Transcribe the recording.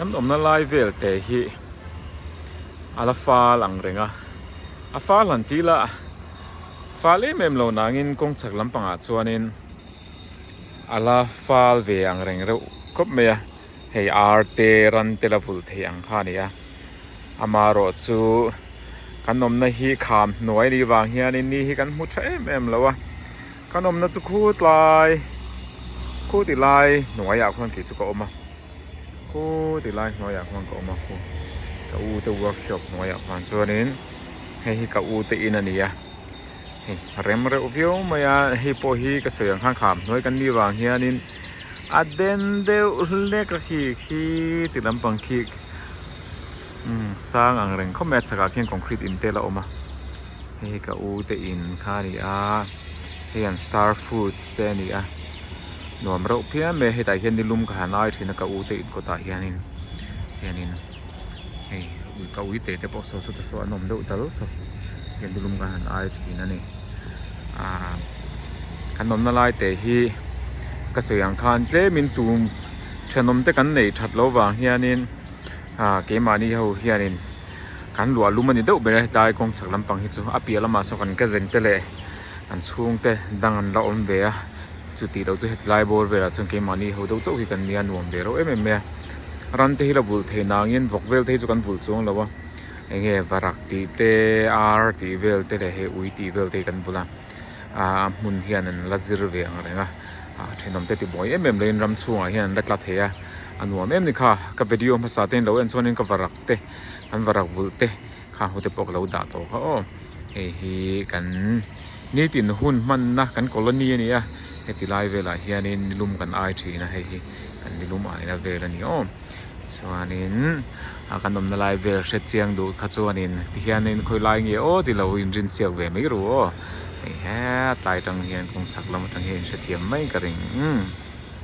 Kan awmna lai vel te hi a la fâl ang reng a, a fâl han ti la, fâl em em lo nangin kawng chak lampangah chuanin a la fâl ve ang reng reuh khawp mai a, hei ar te ran te la vulh theih ang kha a ni a, amarawh chu kan awmna hi kham hnuai ni vang hianin ni hi kan hmu tha em em lo a, kan awmna chu khutlai, khutih lai hnuaiah khuan khi chu ka awm a. Khaw ti lai hnuaiah khan ka awm a, khaw ka u te workshop hnuaiah khan chuanin hei hi ka u te in a ni a, hei rem reuh viau mai a, hei pawh hi ka sawi ang khan kham hnuai kan ni vang hianin a den deuh hlek a khi khi ti lampang khi Umm sang ang reng khawp mai a chhakah khian concrete in tel a awm a hei hi ka u te in kha a ni a hei an star foods te a ni a nuam reuh phian mai a hetah hian ni lum ka han ai thin a ka u te in kawtah hianin hianin hei ka ui te te pawh sawi sawta saw an awm deuh dal saw hetiang ni lum ka han ai thin a ni ahh kan awmna lai teh hi ka sawi ang khan tlem in tum thenawm te kan nei that lo vang hianin. A keimahni ho hianin kan luah lum a ni deuh ber a, hetlai kawng chak lampang hi chu a piah lamah saw kan kazeng te leh kan chhung te dang an la awm ve a, chutih loh chu hetlai bawr velah chuan keimahni ho deuh chauh hi kan nia nuam ve rawh em em mai a, ran te hi la vulh thei na angin vawk vel te hi chu kan vulh chuang lo a, enge varak tih te, ar tih vel te leh he ui tih vel te hi kan vul a. a hmun hian an la zir ve ang reng a, a thinawm te ti bawi em em loin ram chhungah hian an la tla thei a, a nuam em ni kha, ka video hmasa tein lo en chuan in ka varak te kan varak vulh te kha hmu te pawh ka lo dah tawh kha aw, hei hi kan nitin hun hmanna kan colony a ni a, heti lai velah hian in nilum kan ai thin a, hei hi kan nilum aina vel a ni aw. Chuanin a kan awmna lai vel hre chiang duh kha chuanin tihianin khawi lai nge aw tilo inrin chhiak ve mai ru aw. Hei he tlai tang hian kawng sak lam atang hian in hrethiam mai ka ring.